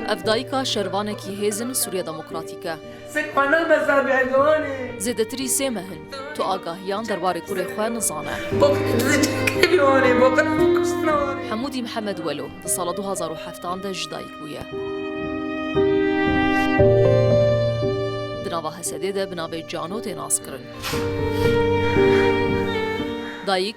Ev dayika şervanekî hêzin Sûriya Demokratîk e. Zêdetirî sê meh in tu agahiyan derbarê kurê xwe nizane. Hemûdî Mihemed Welo di sala du hezar û heft an de jî dayik bûye. Di nava Hesedê de bi navê Cano tê naskirin. Dayik.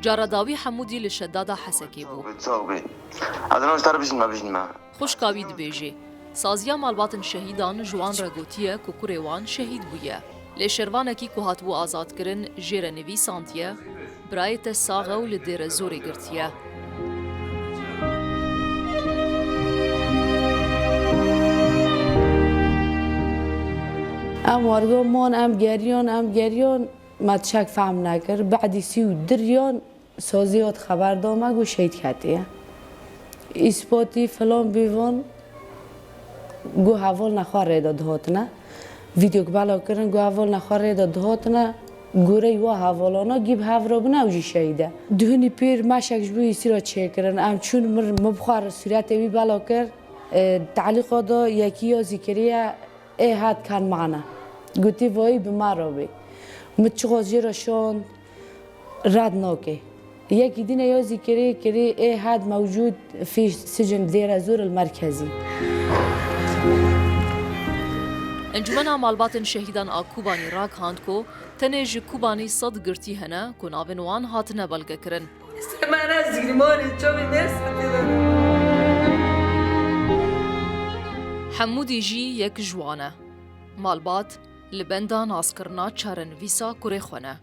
Cara dawî Hemûdî li Şedada Hesekê bû. Xwişka wî dibêje, Saziya malbatên şehîdan ji wan re gotiye ku kurê wan şehîd bûye. Lê şervanekî ku hatibû azadkirin jê re nivîsandiye, Birayê te sax e û li Dêrezorê girtiye. Em waribûn em geriyon, em geriyon. Ma tişek fehm nekir, ba'dî sî û diryan sazî hat xeber da me ku şehîd ketiye. Îspatî filan bîvan ku heval ne xwe rê de dihatine. Vîdyok belav kirin ku heval ne xwe rê de dihatine, goreyî wa hevalana kî bi hev re bûne ew jî şehîd e. Duhunî pîr meşek ji bo Îsî re çêkirin. Em çûn mir, min bi xwe re sûretê wî belav kir. Di telîqa de yekî ya zîkirî ye. Ê hat kan mane. Gotî voyî bi ma re bî. Mi çi xozî re şond red nokê. Yekî dî ne yozî kirî kirî ê hat mewcûd fî sicn Dêrezûr il merkezî. Encûmena Malbatên Şehîdan a Kobanî ragihand ku tenê ji Kobanî sed girtî hene ku navên wan hatine belgekirin. Semana Zîrmanê çavê me spitê de ne. Hemû dî jî yek ji wan e. Malbat li benda naskirina çarenivîsa kurê xwe ne.